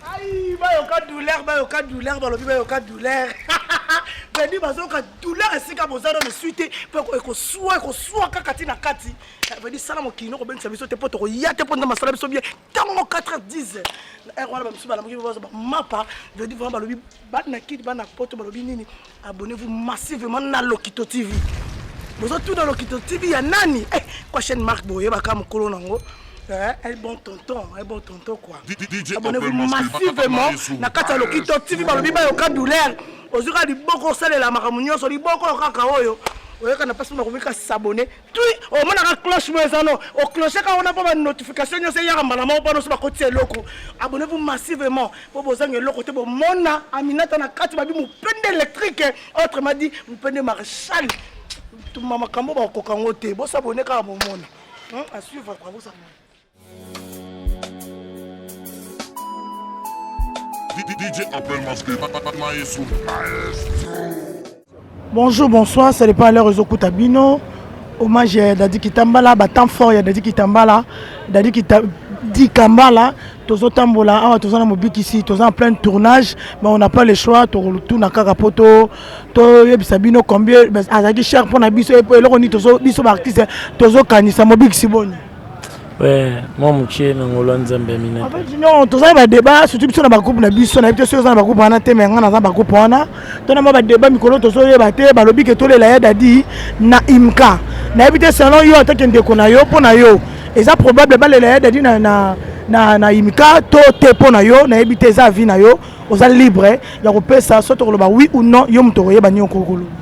Aïe, bayoka douleur, bayoka douleur, balobi bayoka douleur. Bandi bazoka douleur esika bozalo ne suite pe ekosua ekosua kaka ti na kati. Bandi eh, sala mokino ko bengisa biso te po toko ya te po ndama sala biso bien. Tango 4h10. Erwana ba misuba na mokino bazo ba mapa, bandi vraiment balobi bana kidi bana poto balobi nini abonnez-vous massivement na lokito tv bozotuna lokito tv ya nani eh, kwa chaîne marque boyebaka mokolo nango eh, un bon tonton un bon tonton quoi abonnez-vous massivement na kati ya lokito tv balobi bayoka douleur ozoka liboko osalela makambo nyonso liboko kaka oyo oyokana mpasi nakobika sabone tui omonaka cloche mo eza no ocloche kaka wana mpo banotification nyonso eyaka mbala moko mpo nyonso bakotisa eloko abonne vous massivement mpo bozanga eloko te bomona aminata na kati babi mopende électrique autrement dit mopende marechal tuma makambo bakokoka yango te bosabone kaka bomona à suivre kwa bosabone Bonjour, bonsoir, ça dépend à l'heure aux Okutabino. Hommage à Dadi Kitambala, bah, temps fort, il y a Dadi Kitambala. Dadi Kitambala. dikambala tozotambola awa toza na mobikisi toza na plein tournage mais on n'a pas le choix tokotuna kaka mpo toyebisa bino combien azalaki cher mpo na biso eloko nini biso baartiste tozokanisa mobikisi boni mwa moke na ngolo ya nzambe ya mina non tozali badeba surtout biso na bagroupe na biso nayebi te soki oza na bagroupe wana te me ngai naza bagroupe wana to na mwa badeba mikolo tozoyeba te balobi ke tolela ya dadi na imka nayebi te selon yo atake ndeko na yo mpo na yo eza probable balela ya dadi na, na, na, na imka to te mpo na yo nayebi te eza avi na yo oza libre ya kopesa soki tokoloba oui ou non yo moto okoyeba nini okokoloba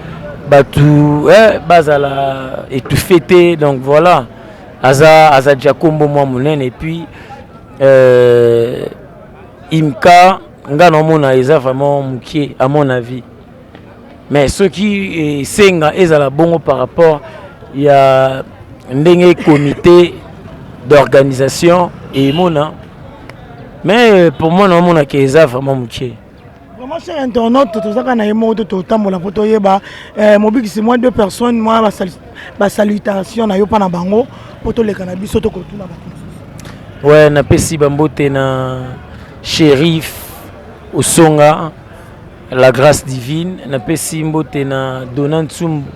batu eh, bazala étouffé te donc voilà aza aza déjà kombo mwa monene et puis euh, imka nga naomona eza vraiment mokie à mon avis mais soki esenga eh, ezala bongo par rapport ya ndenge comité d'organisation emona mais euh, pour moi naomonaka eza vraiment mokie Vraiment cher internaute toza kaka na ye moko to totambola mpo toyeba eh, mobikisi mwa deux personnes mwa basalutation na yo mpa na bango mpo toleka na biso tokotuna bato mosusu we napesi bambote na shérif osonga la grâce divine napesi mbote na dona nsumbu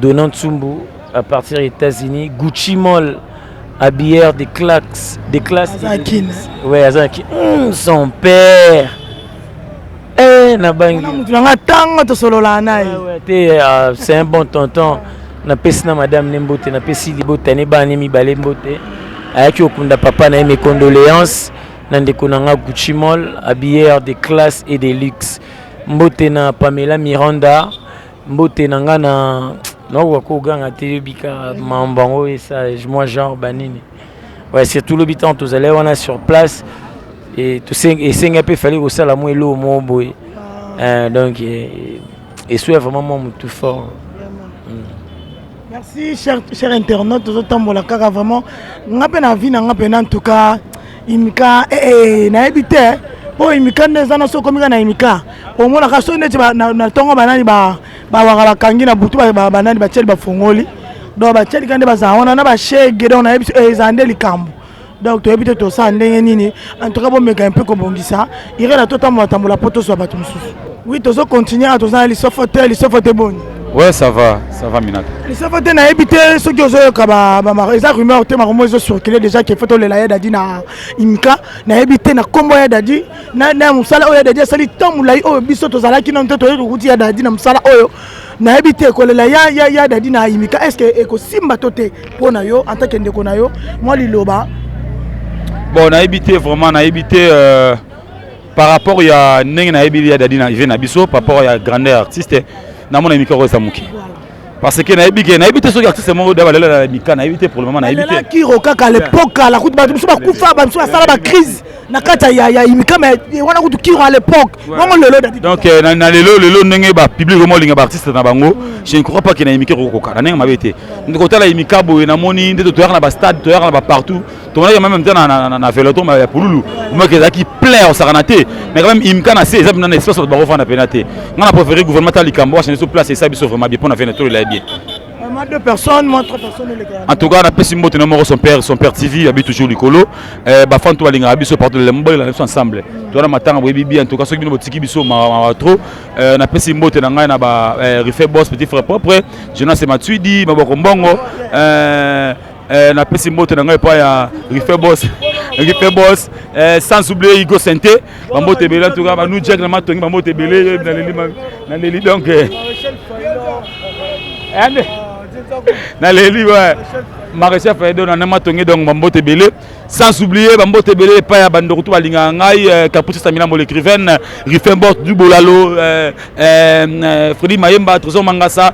Dona Nsumbu à partir ya Etats-Unis, Gucci Mall habilleur de classe de classe aza kin ouais aza kin mm, son père eh na bangi na mutu nanga tanga to solola naye ouais, ouais, te uh, c'est un bon tonton na pesi na madame ne mbote na pesi libota ne bana ne mibale mbote ayaki okunda papa na ye mes condoléances na ndeko na nga Gucci Mall habilleur de classe et de luxe mbote na Pamela Miranda Mbote na nga na naokoka koganga te yebika mambo yango esage moi genre banini ouais, surtout lobi ntango tozalaki wana sur place e, esenga mpe efali kosala mwa eloo moko boye ah. eh, donc eswea vraiment mwa motu fort Merci cher, cher internaute tozo tambola kaka vraiment nga pe na vie na nga pe na en tout cas imika eh, eh, nayebi te mpo oh, imika nde eza na soki okomika na imika omonaka soki neti na ntongo banani bawaka bakangi na butu banani batieli bafongoli donc batielika nde bazala wana na bashege donc nayebi biso eh, ezala nde likambo donc toyebi te tosala ndenge nini en tout cas bomeka mpe kobongisa irena totambola tambola mpo tozwa bato mosusu oui tozo continue awa toza na lisofo te lisofo te boni ouais ça va ça va minata lisofo te nayebi te soki ozoyoka eza rumeur te makomo ezo circule déjà ke fo tolela ya dadi na imika nayebi te na nkombo ya dadi na mosala oyo ya dadi asali ntango molai oyo biso tozalaki nano te toyei tokuti ya dadi na mosala oyo nayebi te kolela ya, ya, ya dadi na imika est ce que ekosimba to te mpo na yo antake ndeko na yo mwa liloba bon nayebi te vraiment nayebi te euh, par rapport ya ndenge nayebi ya dadi na ive na biso par rapport ya grandeur artiste namona imika okoyesa moke parce que nayebi ke nayebi te soki artiste moko da balela na mika nayebi te pour le moment nayebi te kiro kaka lepoka la kutu bato mosusu bakufa bato mosusu basala bacrise na kati ya ya imikama wana kutu kiro à l'époque bongo lelo dadi donc euh, na, na lelo lelo ndenge ba public omo linga ba artiste na bango mm. je ne crois pas que na imike kokoka na ndenge mabe te ndeko tala imika boye na moni nde toyaka na ba stade toyaka na ba partout tomonaki meme mta na, na, na, na veloton ya pululu omaki ezalaki plein osakana te mais quand même imika na se eza mpena na espace bato bakofanda mpena te ngai na préféré gouvernement ta likambo washana biso place esa biso vraiment bien mpo na vene tolela ye bien Vraiment deux personnes, moi trois personnes elekaka. En tout cas, na pesi mbote na moko son père, son père TV abi toujours likolo. Euh ba fan to balinga biso partout le mobile na biso ensemble. Mm. To na matanga boyebi bien en tout cas soki bino botiki biso ma, ma, ma trop. Euh na pesi mbote na ngai na ba euh, refait boss petit frère propre, Jonas Matuidi, Maboko Mbongo. Euh Eh, na pesi mbote na ngai epai ya rife bos rife bos eh, sans oublier igo sente bambote ebele en tout cas banu jack na matongi bambote ebele naleli naleli donc eh, eh, naleli ouais maréchal faido na matongi donc bambote ebele sans oublier bambote ebele epai ya bandoko to balingaka ngai capuce samilambo l'écrivaine rife bos du bolalo fredi mayemba trésor mangasa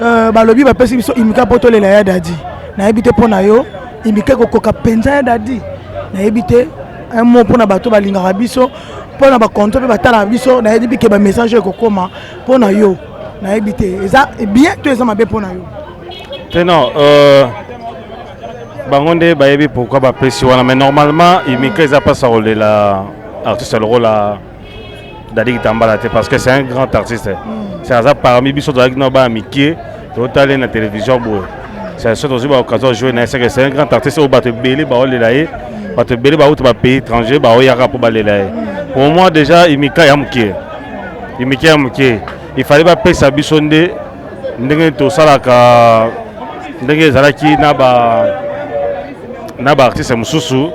Euh, balobi bapesi biso imika mpo tolela ya dadi nayebi te mpo na yo imika ekokoka mpenza ya dadi nayebi te un mot mpo na bato balingaka biso mpo na bakonto mpe batalaka biso nayebi ke bamessage oyo ekokoma mpo na yo nayebi te eza bien to eza mabe mpo na yo te non euh, bango nde bayebi pourkui bapesi wana mais normalement imika eza mpasi ya kolela artiste lokola Dadi Kitambala te parce que c'est un grand artiste. Mm. C'est aza parmi biso tozalaki na bana mikie totali na télévision boye. C'est ce tozwi baoccasion ya jouer na ye seke c'est un grand artiste oyo bato ebele baolela ye bato ebele bauta bapays étranger baoyaka mpo balela ye. Pour moi déjà imika ya mokie imika ya mokie il fallait bapesa biso nde ndenge tosalaka ndenge ezalaki na ba na ba artiste mosusu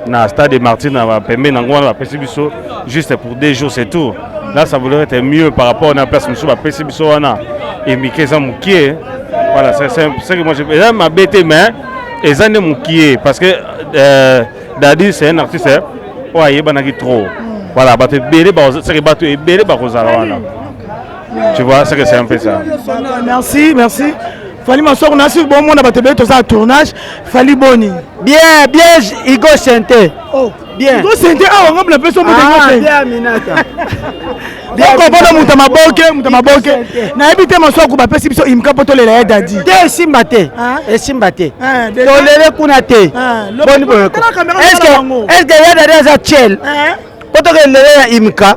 na stade de martin na pembeni yango wana bapesi biso juste pour deux jours c'est tout là ça voudrait être mieux par rapport na place mosusu bapesi biso wana emike eza mokie voilà c'est ce que moi je eza mabe te mais eza nde mokie parce que euh, dadi c'est un artiste oyo ayebanaki trop voilà bato ebele seke bato ebele bakozala wana Tu vois, c'est que c'est un peu ça. Merci, merci. Fali Masoko, n'a su bon monde à battre tout ça tournage. Fali Boni. Bien, bien, Igo Santé. Oh, bien. Igo Santé, ah, on va appeler son mot de Ah, bien, Aminata. okobona moto maboke moto maboke nayebi te masoko bapesi biso imka mpo tolela ya dadi te esimba te esimba te tolele kuna te eske ya dadi aza tiel mpo tokende lele ya imka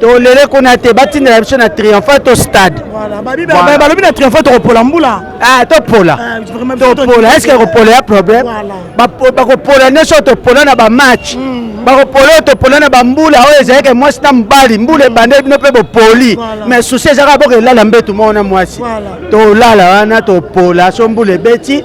tolele kuna te batindela biso na triomphal to stade balobi na triomphal tokopola mbula ah, topola ah, topola eske kopola ya problème bakopola nyonso oyo topola na bamatch mm, mm. bakopola oyo topola na bambula oyo ezalaki mwasi na mobali mbula ebandeli bino mpe bopoli mais susi ezalaka boko elala mbetu moko na mwasi tolala wana topola so mbula ebeti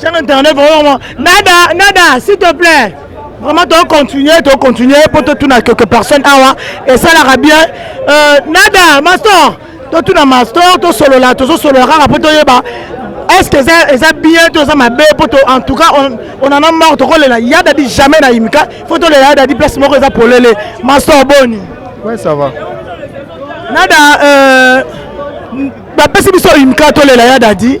Chaîne internet vraiment nada nada s'il te plaît vraiment to continuer to continuer po to tuna quelques personnes awa et ça la bien euh, nada mastor to tuna mastor to solola to solola kaka po to yeba est-ce que eza eza bien to eza mabe po to en tout cas on on en a marre to kolela ya dadi jamais na imika faut to lela ya dadi place moko eza polele mastor boni ouais ça va nada euh bapesi biso imika tolela ya dadi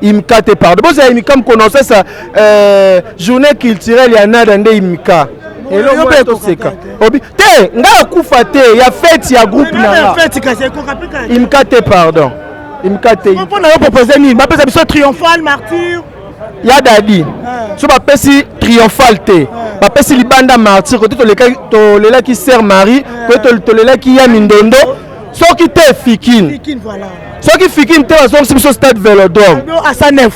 imika te pardon bozala imika mokona osasa euh, journée culturelle ya nada nde imika yo mpe ekoseka obi te ngai akufa te ya fete ya groupe nanga imika te pardon imika te mpo na yo propose nini bapesa biso triomphal martyr ya dadi so bapesi triomphal te bapesi libanda martyr kote tolelaki sœur marie kote tolelaki ya mindondo soki te fikine soki fikine te bazongisi biso stade velodrome asa nef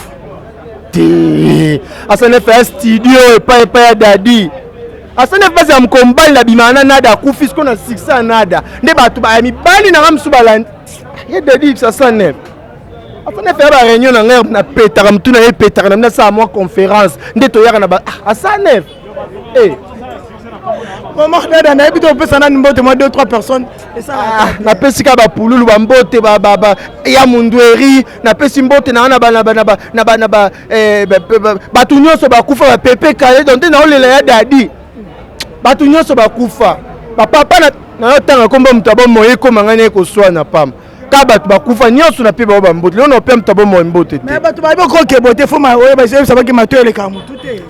te asa nef ya studio epai epai ya dadi asa nef basi ya mokolo mobali na bimana na nada akufi siko na succès ya nada nde bato baya mibali na nga mosusu balandi ye dadi ibsa asa nef asa nef ya bareunion na ngai napetaka motu na ye epetaka na bino asala mwa conférence nde toyaka na ba asa ah, nef Eh. mama dada nayebi te opesa nani mbote mwa 2 3 personnes ah, napesi ka bapululu bambote ya mundueri napesi mbote na wana eh, bato nyonso bakufa bapepe kale don te naolela ya dadi bato nyonso bakufa bapapa nayotanga nkombo moto abomoye ekoma ngai naye koswana pamba ka bato bakufa nyonso na mpe bao bambote lelo naopea moto abomoi mbote te bato bayebi kokebo te fo oyo bayebisabaki mato eleka motu te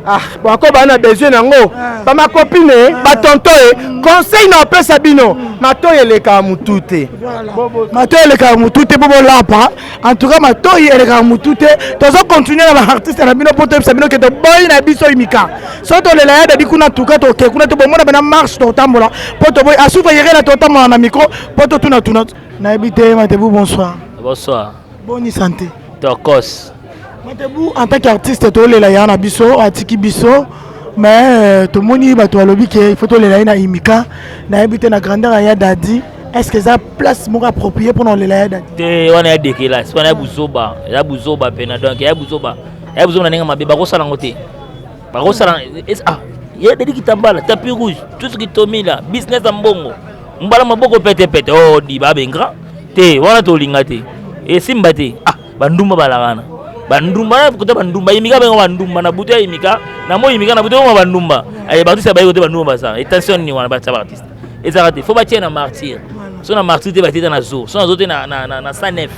ah bako baa na besoin yango ah. bamakopine eh, ah. batonto ye eh. mm. conseil na opesa bino mm. matoi elekaka motu te matoi elekaka motu te mpo bolapa en tout cas matoi elekaka motu te tozo continue na baartiste na bino mpo toyebisa bino ke toboyi na biso imika so tolela ya dadi kuna tuka toke kuna tobomona bena marche totambola mpo toboyi asufa yerena totambola na micro po totuna tuna nayebi te matebu bonsoir bonsoir boni sante tokos matebu en tant qu'artiste tolela ya na biso atiki biso mais euh, tomoni bato balobi ke ifo tolela ye na imika nayebi te na grandeur ya dadi est ce que eza place moko approprié mpona olela ya dadi te wana ya dekelasi wana ya buzoba ya buzoba mpena donc ya buzoba ya buzoba na ndenge mabe bakosala yango te bakosala ah, ye dedi kitambala tapi rouge tout ce qui tomi la business ya mbongo mbala maboko petepete o oh, diba abengra te wana tolinga te esimba te ah bandumba balakana bandumba kota bandumba imika bengo bandumba na butu ya imika na moi imika na butu yango bandumba aye bato sabaye kote bandumba basala etension nini wana batya baartiste ezalaka te fo batye na martyr so na martyr te batye ta na zo so na zo te na sanef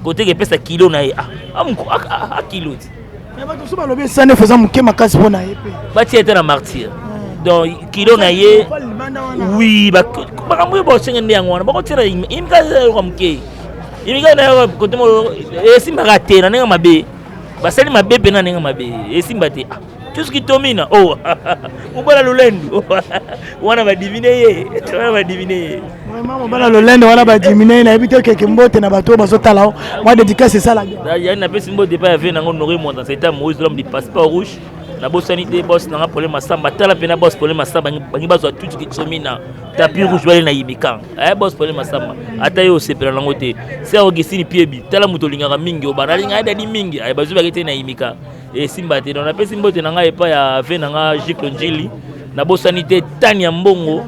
koteke epesa kilo na ye ah, ah, ah, ah kilo ti Mais bato so balobi esani efu eza moke makasi mpo na ye mpe batia ete na martyr donc kilo na ye wi makambo oyo bosenge nde yango wana bakotiela imika yoka moke imika nayo kote moko esimbaka te na ndenge mabe basali mabe mpe na ndenge mabe esimba te ah, tuski tomina o oh, mobala lolendu wana badivine ye wana badivine ye Vraiment mobala lolende wana ba diminuer na yebi te keke mbote na bato bazo tala o mwa dédicace esala bien. Da yani na pesi mbote pa ya vie nango Nori Mwanda c'est un Moïse l'homme du passeport rouge. Na bosani te boss nanga problème asamba tala pe na boss problème asamba bangi bazo tuti ki somina tapis rouge wale na yibika. Eh boss problème asamba ata yo sepela nango te. C'est Augustine Piebi tala moto lingaka mingi obana linga dadi mingi ay bazo bakete na yimika. esimba te donc napesi mbote na ngai epai ya ve na ngai jiklo njili nabosani te tani ya mbongo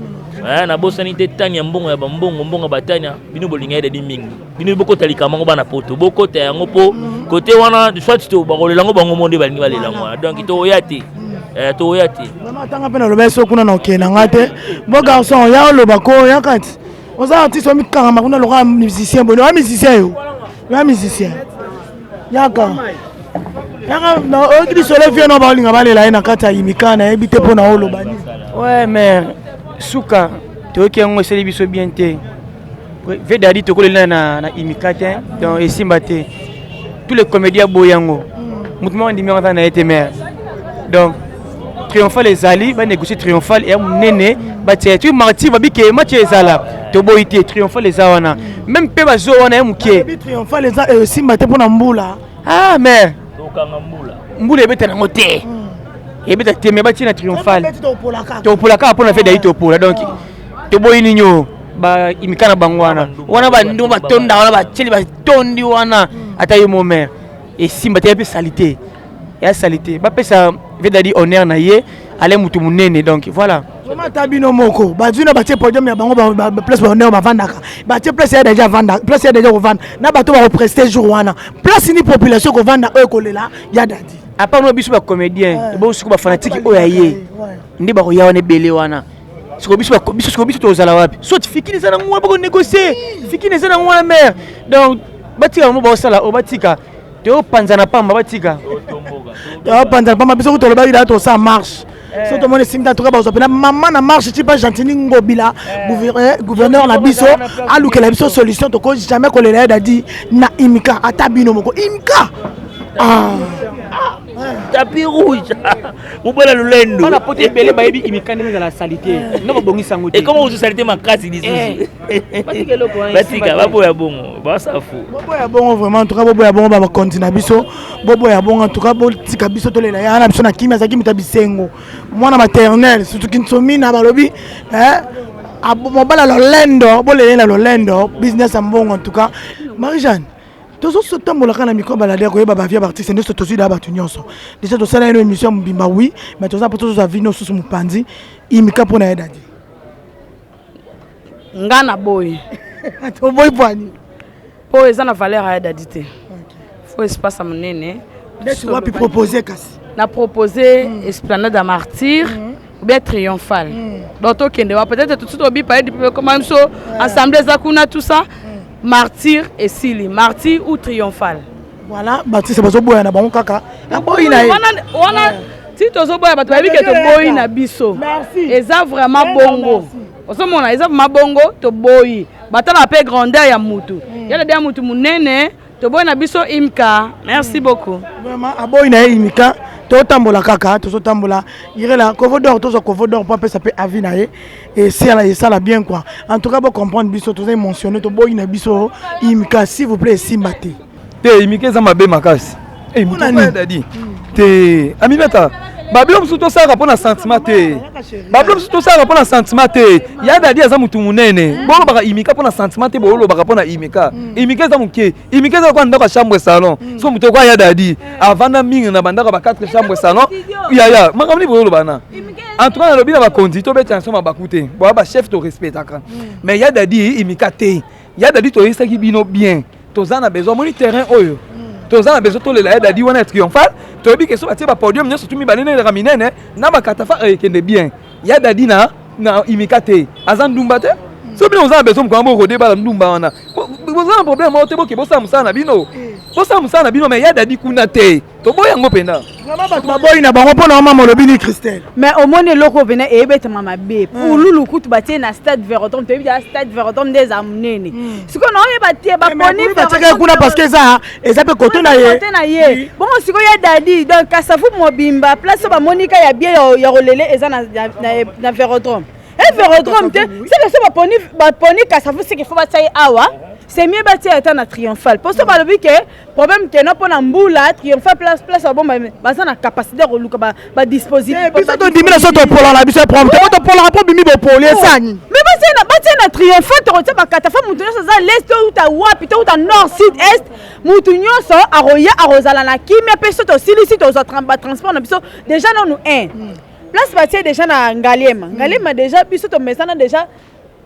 eh, nabosani te tani ya mbongo ya bambongo mbongo ya batania bino bolinga edadi mingi bino bokota likambo yango bana poto bokota yango mpo kote wana soit to bakolela yango bango mo nde balingi balela yango wana donc toya te eh, toya te atanga mpe naloba eso kuna na okende na ngai te bo garçon ya oloba ko ya kati oza artiste omikangama kuna lokola musicien boye lokola musicien yo na musicien yaka yaka oyoki lisolo vie na baolinga balela ye na kati ya yimika nayebi te mpo na oloba nini ouais mais suka toyoki yango esali biso bien te vedadi tokolela na, na imika te donc esimba te tous les comédien aboyi yango motu moko andimi yango aza na ye te mare donc triomphal ezali banegocie triomphal ya monene batia tu martir babike match ezala toboyi te triomphal eza wana meme mpe bazo wana ya moke triomphal eza esimba te mpo na mbula ah mais mbula ebeta nango te hmm. ebeta te me batie na triomphal topolaka mpo na fedai ah. topola donc ah. toboyi nini o imika na bango wana wana bandu batondaka wana batieli batondi wana hmm. ata ye momere esimba te ya mpe salite ya salite bapesa vedadi honneur na ye ale mutu munene donc voilà vraiment ata bino moko bazwi na batie podium ya bango place bahonneur bavandaka batie place ya deja avanda place ya deja kovanda na bato bakopreste jour wana place ni population ekovanda oyo ekolela ya dadi apa no biso bacomédien eh. bo siko bafanatike oyo ya ye nde bakoya wana ebele wana siko biso biso siko biso tozala wapi soit fikini eza nango wana bakonegocie fikini eza nango wana mare donc batika bango baosala oyo batika topanzana pamba batika topanzana pamba biso kutu olobaki daa tosala marche eh. so tomoni esimbi natoka bazwa mpena mama na marche ti mpa gentini ngobila eh. eh, gouverneur na biso alukela biso solution tokoki jamais kolela ye dadi na imika ata bino moko imika ah. tapi rouge mobala lolendo bana poto ebele bayebi imika ndenge ezala salite noko bongisa yango te ekoma ozo salite makasi lisusu batika baboya bongo basafu boboya bongo vraiment entuka boboya bongo babakonzi na biso boboya bongo entuka botika biso tolela yana biso na kimia azalaki moto ya bisengo mwana maternel sutuki nsomina balobi eh, mobala lolendo bolelela lolendo business ya mbongo entuka marie jeanne tozotambolaka na mikro baladi ya koyeba bavie ya baartiste nde tozwi da bato nyonso deja tosala yeno émission mobimba wi mais toza mpo tozozwa vi nosusu mopanzi imika mpo na ye dadi nga na boyi oboyi pwani po eza na valeur ya dadi te fo espace ya monene neti wapi propose kasi na propose mm. esplanade ya martyr mm. bien triomphal mm. donc tokende wa peut-être tout de suite obipa ye dipe ekoma biso assemblée eza kuna tout ça mm. martyr esili martyr ou triomphal Voilà, batiste bazoboya na bango kaka aboyi na ye wana ti tozoboya bato bayebi ke toboyi na biso eza vraiment bongo ozomona eza vraiment bongo toboyi batalaka mpe grandeur ya mutu hmm. yala bya mutu monene toboyi na biso imka merci hmm. beaucoup vraiment aboyi na ye imika totambola kaka tozotambola irela kovodor tozwa kovodor mpo apesa mpe avi na ye esala esala bien quoi en tout cas bo comprendre biso toza émotionné toboyi na biso imika s'il vous plaît esimba te te imika eza mabe makasi eh, dadi te aminata babilo mosusu tosalaka mpo na sentiment te babilo mosusu tosalaka mpo na sentiment te ya dadi aza motu monene bolobaka imika mpo na sentiment te bolobaka mpo na imika imika eza moke imike eza lokola ndako ya chambre salon mm. so moto ekoya ya dadi eh. avanda mingi na bandako ya ba 4 chambre salon yaya makambo nini boyoloba na en tout cas nalobi na bakonzi tobetela nso mabaku te boya bachef torespectaka mm. mais ya dadi imika te ya dadi toyesaki bino bien toza na besoin omoni terrain oyo mm. toza na besoin tolela ya dadi wana ya triomphale toyebi ke so batie bapodium nyonso tu mibale neleka minene na bakatafa ekende eh, bien Ya dadi na na imika te aza ndumba te so bino boza na besoin mokona borode bala ndumba wana boza na problème moko te boke bosala mosala na bino bosala mosala na bino me ya dadi kuna te toboyi yango mpenza bato baboyi na bango mpo na oma molobi ni christelle mais omoni eloko oyo mpenza eyebetama mabe pululu kutu batie na stade verotom toyebi aa stade verotom nde eza monene sikoyo na oyeba te baponi kuna parce que eza eza mpe kote na ye kote na ye bongo sikoyo ya dadi donc kasavu mobimba place oyo bamonika ya bie ya kolele eza na verodrome e verodrome te seke so baponi kasavu seke fo batya ye awa c'est mieux batia ata na triomphal mpo so balobi ke problème kena mpo na mbula triomphal place place babomba baza na capacité ya koluka ba dispositif eh, biso tondimi na so topola na biso prompte po topolaka mpo bimi bopoli oh. esani me batie na triomphant tokotia bakata fa moto nyonso aza lest touta wapi touta nord sud est moto nyonso akoya akozala na kimia mpe so tosilisi tozwa batransport na biso déjà nanu 1 hmm. place batie déjà na ngaliema hmm. ngaliema déjà biso tomesana déjà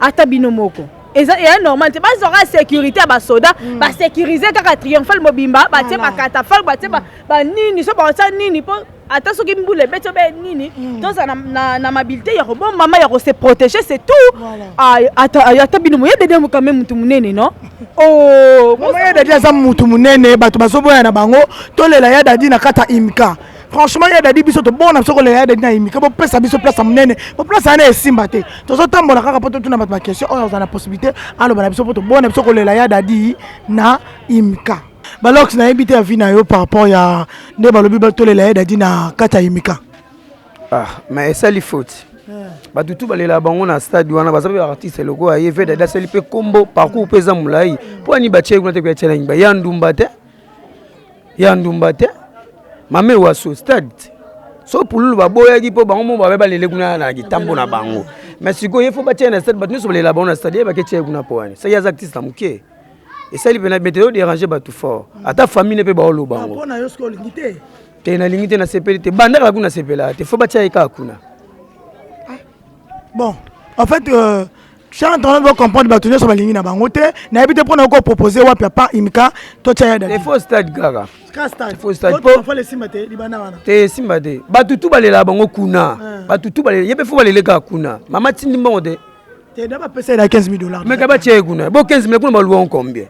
ata bino moko eza eya normal te bazwa kaka sécurité ya basoda mm. basécurise kaka triomphale mobimba batie bakatafale batie mm. banini so baotya nini mpo ata soki mbula ebeti obe nini mm. tozala na mabilité ya kobombama ya kose protéger c'est tout ah, ata bino moyede de mokame motu monene no oh, moyede de aza motu monene bato bazoboya na bango tolela ya dadi na kata imka franchement ya dadi biso tobona biso kolela ya dadi na imika bopesa biso place ya monene po place yana esimba te tozotambola kaka mpo totuna bato baquestion oyo aza na possibilité aloba na biso mpo tobona biso kolela ya dadi na imika balox nayebi te avi na yo par rapport ya nde balobi tolela ya dadi na kati ya imika ah, mais esali faute bato tu balelaka bango na stade wana baza mpe baartiste lokola ye vedade asali mpe nkombo parcours mpe eza molai mpo ani batyai kuna te koya tyela nyimba ya ndumba te ya ndumba te mame waso stade so pululu baboyaki mpo bango moko babe balele kuna na kitambo na bango mais sikoyo ye fo batyai na stade bato nyonso balela bango na stade ye bake tyai kuna mpo wani soki aza actiste na moke esali mpena bete yo dérange bato fort ata famille ne mpe baoloba yango te nalingi te nasepeli te bandaka kuna sepelaka te fo batya ye kaka kuna ah, bon en fait euh... Chant on veut comprendre bato nyonso balingi na bango te nayebi te mpona oko propose wapi apa imika totya ya dadi faut stade kaka faut stade po esimba te libanda wana te esimba te bato tu balelaka bango kuna bato tu balele ye mpe fo balele kaka kuna mama tindi mbongo te te da bapesa ye na 15 000 dollars meka batya ye kuna bo 15 000 kuna baluwa combien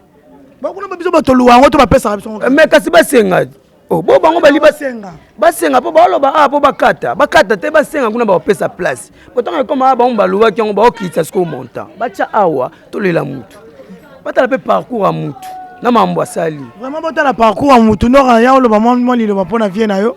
bakuna biso bato luwa yango to bapesaka biso mais kasi basenga Oh, bo bango bali basenga basenga mpo baloba awa ah, mpo bakata bakata te basenga kuna bakopesa place botango ekoma awa ah, bango balobaki yango bakokitisa sikoyo montant batya awa tolela mutu batala mpe parcours ya mutu na mambo asali vraiment botala parcours ya mutu ndoka ya oloba mwa liloba mpo na vie na yo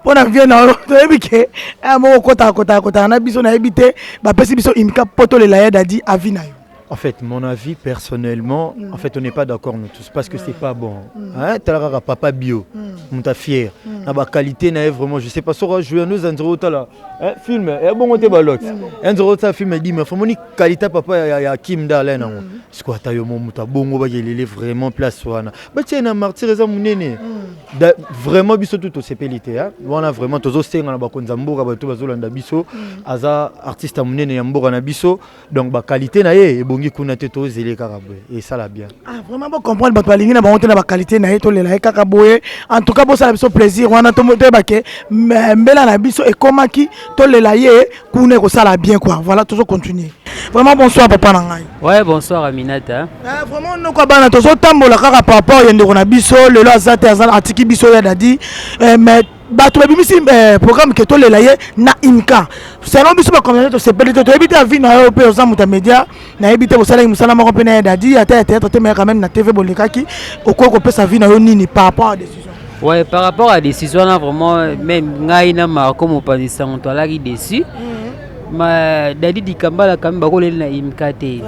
mpo na vie na yo toyebi ke eh, moko kotaka kotaka kotaka na biso nayebi te bapesi biso imika mpo tolela ya dadi avi na yo En fait, mon avis personnellement, mm. en fait, on n'est pas d'accord nous tous parce que mm. c'est pas bon. Mm. Hein, talara papa bio, mm. mon ta fier. Mm. Na ba qualité na vraiment, je sais pas sur jouer à nous un zéro tala. Hein, film, et eh, bon on te balot. Mm. Un zéro tala film dit mais faut moni qualité papa ya, ya Kim da là na. Mm. Ce quoi ta yo mon muta bongo ba gelele vraiment place wana. Ba tiens na martyr eza munene. Mm. Da, vraiment biso tout au CPLT hein. Wana vraiment tozo senga na ba konza mboka ba tout bazolanda biso. Mm. Aza artiste munene ya mboka na biso. donc ba qualité na ye ebongi kuna te tozele kaka boye esala bien ah vraiment bo comprendre bato balingi na bango te na ba qualité na ye tolela ye kaka boye en tout cas bosala biso plaisir wana toyeba ke mbela na biso ekomaki tolela ye kuna ekosala bien quoi voilà tozo continuer vraiment bonsoir papa na ngai ouais bonsoir aminata ah, vraiment noko bana tozotambola kaka par rapport ya ndeko na biso lelo aza te aza atiki biso ya dadi eh, mais bato babimisi eh, programme ke tolela ye na inka selon biso bacomptante tosepeli te toyebi te avi na yo mpe oza moto ya média nayebi te bosalaki mosala moko mpe na ye dadi ata ya théâtre te mais quand même na tv bolekaki okoki kopesa vi na yo nini par rapport à décision ouais par rapport à décision wana vraiment même ngai na marco mopanzi sango toalaki déçu mhm. ma dadi dikambala kami bakoleli na imka te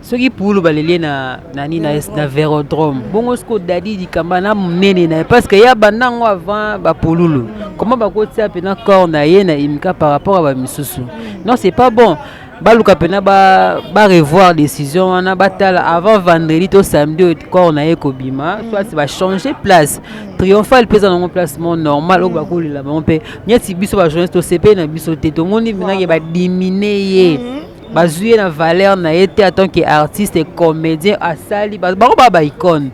soki pulu baleli ye na nani na, na verodrome bongo siko dadi likamba na monene na ye parce que ya banda ngo avant bapululu comment bakotia mpena corps na ye na imika par rapport ya bamisusu non c'est pas bon baluka mpena barevoir ba décision wana batala avant vendredi to samedi oyo corps na ye kobima soit bachange place triomphal mpe eza nango place mo normal oyo bakolela bango mpe neti biso bajournaliste tosepeli na biso te tomoni minake badimine ye mm -hmm. bazwi ye na valeur na ye te atant que artiste et comédien asali bango baa ba icone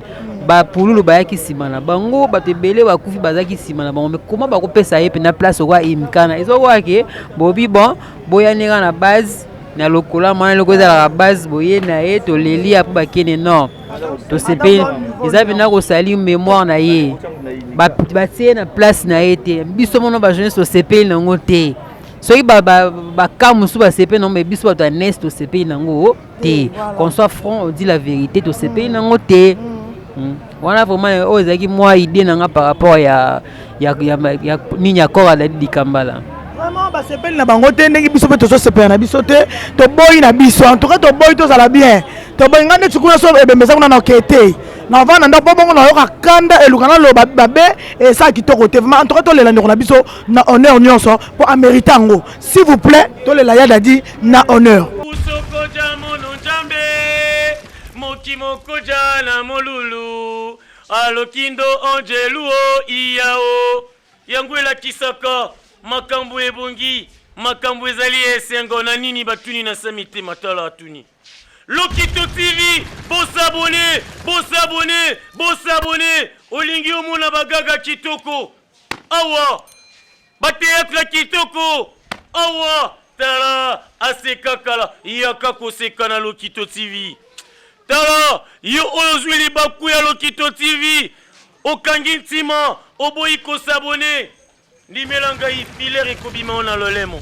bapululu bayaki nsima na bango bato ebele bakufi bazalaki nsima na bango me koma bakopesa ye mpena place okoa imkana ezokoka ke bobi bon boyani kaka na base na lokola mwana eloko ezalaka base boye na ye toleli ya mpo bakende nord tosepeli eza mpena kosali memoire na ye batie na place na ye te biso mono bajeunesse tosepeli na yango te soki bakaa mosusu basepeli nango mai biso bato ya nes tosepeli nango te qu'on soit front odi la vérité tosepeli mm. nango te mm. Mm. wana vraiment oyo ezalaki mwa idée na nga par rapport ya nini ya kora dadi likambala vraiment basepeli na bango te ndenge biso mpe tozosepela na biso te toboyi na biso en tout cas toboyi tozala bien toboyi ngai neti kuna so ebembeza kuna na oke te navanda ndako mpo bongo nayoka kanda eluka naloba babe esa kitoko te vraimen en tout cas tolela ndeko na biso na honneur nionso po amerite yango s'il vous plaît tolela ya dadi na honneur usokoja mono njambe mokimokoja na molulu alokindo angelu o iya o yango elakisaka makambo ebongi makambo ezali esengo na nini batuni na sami te matala atuni lokito tv bosabone bosabone bosabone olingi omona bagaga kitoko awa bateatre kitoko awa tala asekakala yaka koseka na lokito tv tala yo oyo ozwi libaku ya lokito tv okangi ntima oboyi kosabone ndimela ngai filer ekobima yo na lolemo